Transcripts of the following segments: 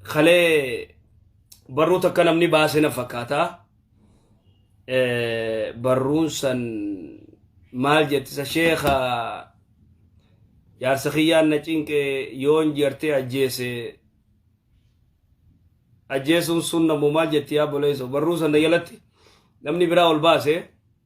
kalee barruu takka namni baase na fakkaata. Eh, Barruun san maal jettisa sheekha jaarsa kiyyaan na cinqe yoon jartee ajjeese ajjeesuun sun nammoo maal jetti yaa boleeso barruu san na jalatti namni biraa ol baase.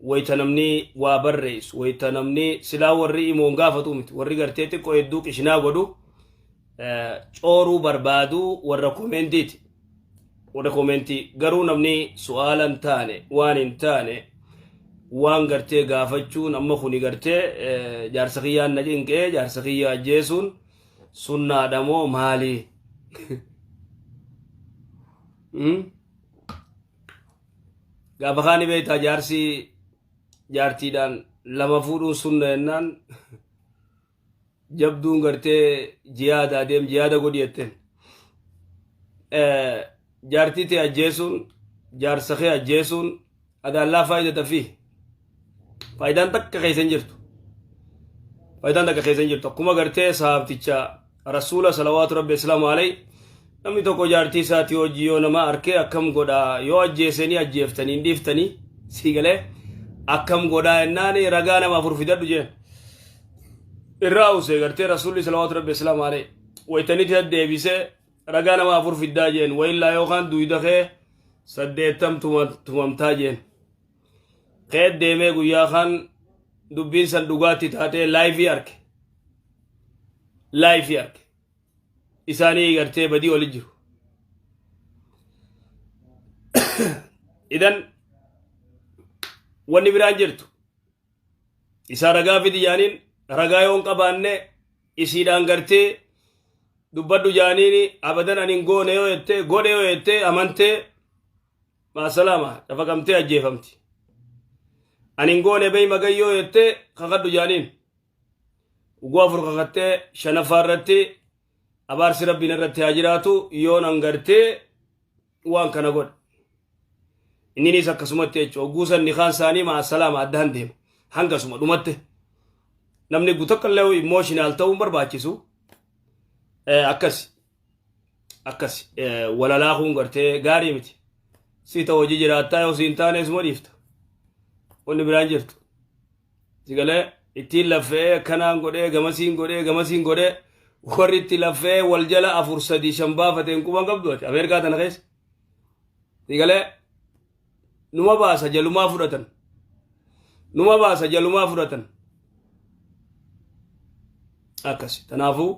wayta namni waa barreessu wayta namni silaa warri imoon gaafatu miti warri gartee xiqqoo hedduu qishinaa godhu eh, cooruu barbaadu warra komeentiiti warra komeentii garuu namni su'aala hin taane waan hin taane waan gartee gaafachuun amma kuni gartee eh, jaarsa kiyyaan na cinqee jaarsa kiyya ajjeesuun sunnaadha moo maali? Hmm? Gaafa kaani beektaa jaarsi jaartiidhaan lama fuudhuun sunna jennaan jabduun gartee jiyaada adeem jiyaada godhi jetteen. Jaartii tee ajjeesuun jaarsa kee ajjeesuun adaallaa faayidata fi Faayidaan takka keessa hin jirtu. Faayidaan takka keessa hin jirtu. Akkuma gartee sahaabticha rasuula salawaatu rabbi islaamu alayhi namni tokko jaartii isaatii hojii yoo nama arkee akkam godhaa yoo ajjeesanii ajjeeftanii hin dhiiftanii sii galee akkam godhaa jennaan ragaa nama afur fidadhu jeen. Irraa usee gartee rasuulli salawaatu rabbi islaamu alayhi wayitanitti deddeebisee ragaa nama afur fiddaa jeen wayillaa yookaan duwida kee saddeettam tumamtaa jeen. keet deemee guyyaa kaan dubbiin san dhugaatti taatee laayifii arke laayifii arke isaanii gartee badii oli jiru idan wanni biraan jirtu isaa ragaa fidi jaaniin ragaa yoon qabaanne isiidhaan gartee dubbadhu jaaniini abadan anin goone yoo jette godhe yoo jette amantee maasalaama dhafaqamtee ajjeefamti ani hin goone beey magayyoo jettee kakadhu jaaniin ugguu afur kakattee shanaffaa irratti abaarsi rabbiin irratti haa jiraatu yoon angartee waan kana godha inninis akkasumatti jechuudha ugguu san nikaan isaanii maasalaama adda han deema hangasuma dhumatte namni gutakkallee immooshinal ta'uun barbaachisu akkas akkas walalaa kun gartee gaarii miti si ta'u hojii jiraattaa yoo siin taane isuma dhiifta wanni biraan jirtu si galee ittiin laffee akkanaan godhee gamasiin godhee gamasiin godhee warri itti laffee wal jala afur sadii shan baafateen quban qabdu ati ameerikaa tana keessa si galee numa baasa jalumaa fudhatan numa baasa jalumaa fudhatan akkasi kanaafuu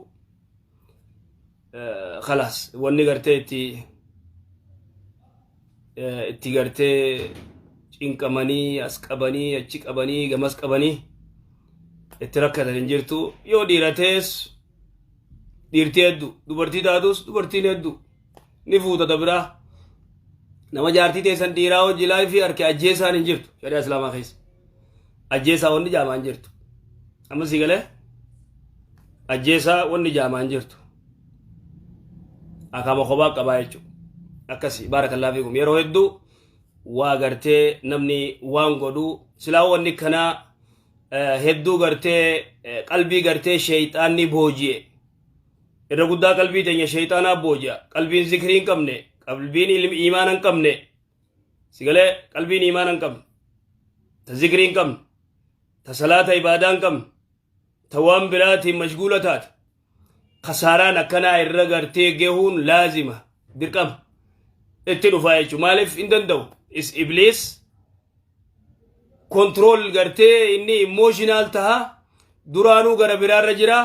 kalaas wanni gartee itti itti gartee cinqamanii as qabanii achi qabanii gamas qabanii itti rakkatan hin jirtu yoo dhiiratees dhiirtii hedduu dubartii taatus dubartiin hedduu ni fuuta ta biraa nama jaartii teessan dhiiraa hojii laayifii harki ajjeesaan hin jirtu shari'a islaamaa keessa ajjeesaa wanni jaamaa hin jirtu amma si galee ajjeesaa wanni jaamaa hin jirtu akaama kophaa qabaa jechuudha akkasi baarakallaa fiikum yeroo hedduu waa gartee namni waan godhu silaa wanni kanaa hedduu gartee qalbii gartee sheeyxaanni booji'e Irra guddaa qalbii teenya shayxaanaa booji'a. Qalbiin zikrii hin qabne, qalbiin ilmi iimaana hin qabne, sigalee qalbiin iimaana hin qabne, ta zikrii hin qabne, ta salaata ibaadaa hin qabne, ta waan biraatiin mashguula taate. Kasaaraan akkanaa irra gartee gehuun laazima, dirqama. Itti dhufaa jechuudha. Maaliif hin danda'u? Is ibliis kontirool gartee inni immooshiinaal taha duraanuu gara biraarra jiraa.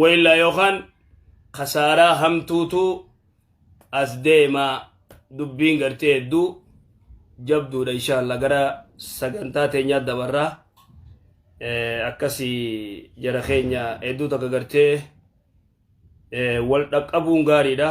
Waillaa yookaan kasaaraa hamtuutu as deema dubbiin gartee hedduu jabduudha inshaalla gara sagantaa teenyaa dabarraa akkasii jara keenya hedduu takka gartee wal dhaqqabuun gaariidha.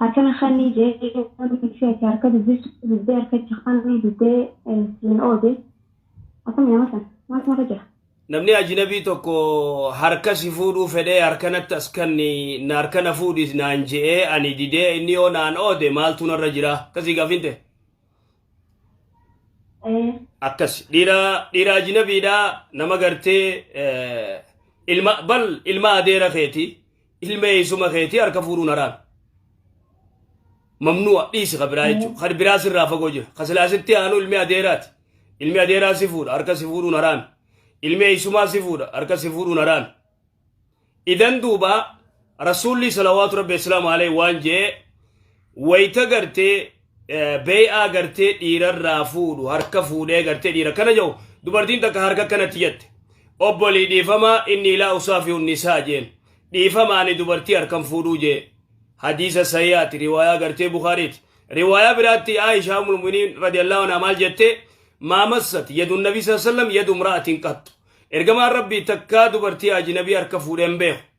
Harkana khani je wani fi ati harka dubisu dide harkacha khani dide sin ode akami nama san mal nara jira. Namni ajinabii tokko harka si fuudhuu fedhee harka natti as kanni na harka na fuudhis naan je'ee ani didee inni yoo naan oode maaltu narra jira akkasii gaafin ta'e Ee akkas dhiira dhiira ajinabiidha nama gartee eh, ilma bal ilma adeera keeti ilma eessuma keetii harka fuudhuun haraami. Mamnu'a dhiisi ka biraa jechuudha. Kan biraa sirraa fagoo jira. Kan silaa sitti aanu ilmi adeeraati. Ilmi adeeraa si fuudha harka si fuudhuun haraami. Ilmi eessumaa si fuudha harka si fuudhuun haraami. Idan duuba rasuulli salawaatu rabbi islaamu alayhi waan jee Wayita gartee bee'aa gartee dhiirarraa fuudhu harka fuudhee gartee dhiira kana jedhu dubartiin takka harka kanatti jette. Obbolii dhiifamaa inni ilaa usaafi unnisaa jeen. Dhiifama ani dubartii harkan fuudhuu jee. Hadiisa sahihaati riwaayaa gartee Bukaariiti. Riwaayaa biraatti Aishaa Ummul Mu'miniin radiyallahu anhaa maal jettee maa massat yadu nabii sallallahu alaihi wasallam yadu imra'atin qattu. Ergamaan Rabbii takkaa dubartii ajnabii harka fuudheen beeku.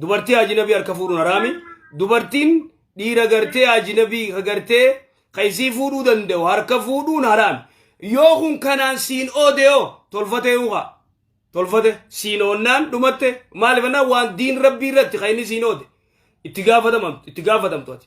Dubartii ajinabii harka fuudhuun haraami. Dubartiin dhiira gartee ajinabii ka gartee ka isii fuudhuu danda'u harka fuudhuun haraami. Yoo kun kanaan siin oode yoo tolfate yoo kaa. Tolfate siin oonnaan dhumatte maaliif annaa waan diin rabbii irratti ka inni siin oode itti gaafatamamtu itti gaafatamtu ati.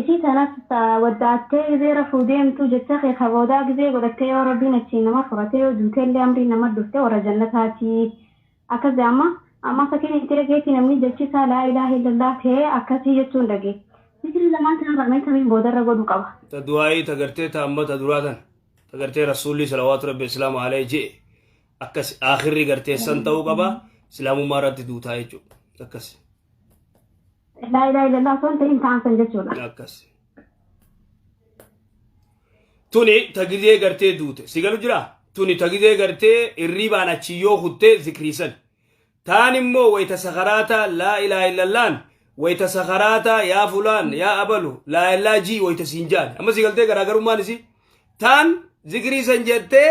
Isii tanas ta waddaattee gizee rafuu deemtu jecha kee ka boodaa gizee godhattee yoo Rabbiin achii nama furatee yoo duutellee amriin namat dhufte warra jannataati. Akkas ja'an ma, ammaa fakkiin itti dhageetti namni jechi isaa laa ilaaha illallaah ta'ee akkasii jechuun dhage. Zikrii lamaan tanarraa mee tamiin boodarra godhuu qaba? Ta du'aa'ii ta gartee ta amma ta duraa tana. Ta gartee Rasuulli salawaatu Rabbi Islaama alayhi je'e akkas aakhirri gartee san ta'uu qaba Islaamummaa irratti duutaa jechuudha. Akkas. Laa ilaaha illallah osoo hin ta'in ta'an san jechuudha. akkas tuni tagizee gartee duute si galu jira tuni tagizee gartee irriibaan achi yoo kuttee zikriisan taan immoo wayta sakaraata laa ilaaha illallaan wayta sakaraata yaa fulaan yaa abalu laa ilaaha jii wayta siin jaan amma si galtee garaagarummaan isi taan zikriisan jettee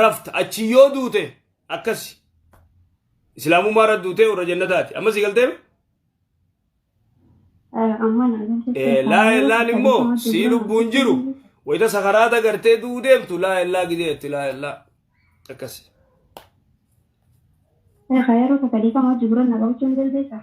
rafta achi yoo duute akkasi islaamummaa irra duutee warra jannataati amma si galteem laa illaan immoo sii lubbuun jiru wayita sakaraata gartee du'u deemtu laa illaa gidee itti laa illaa akkasi Yeroo takka dhiifama wajji gurra na qabachuun dandeessaa?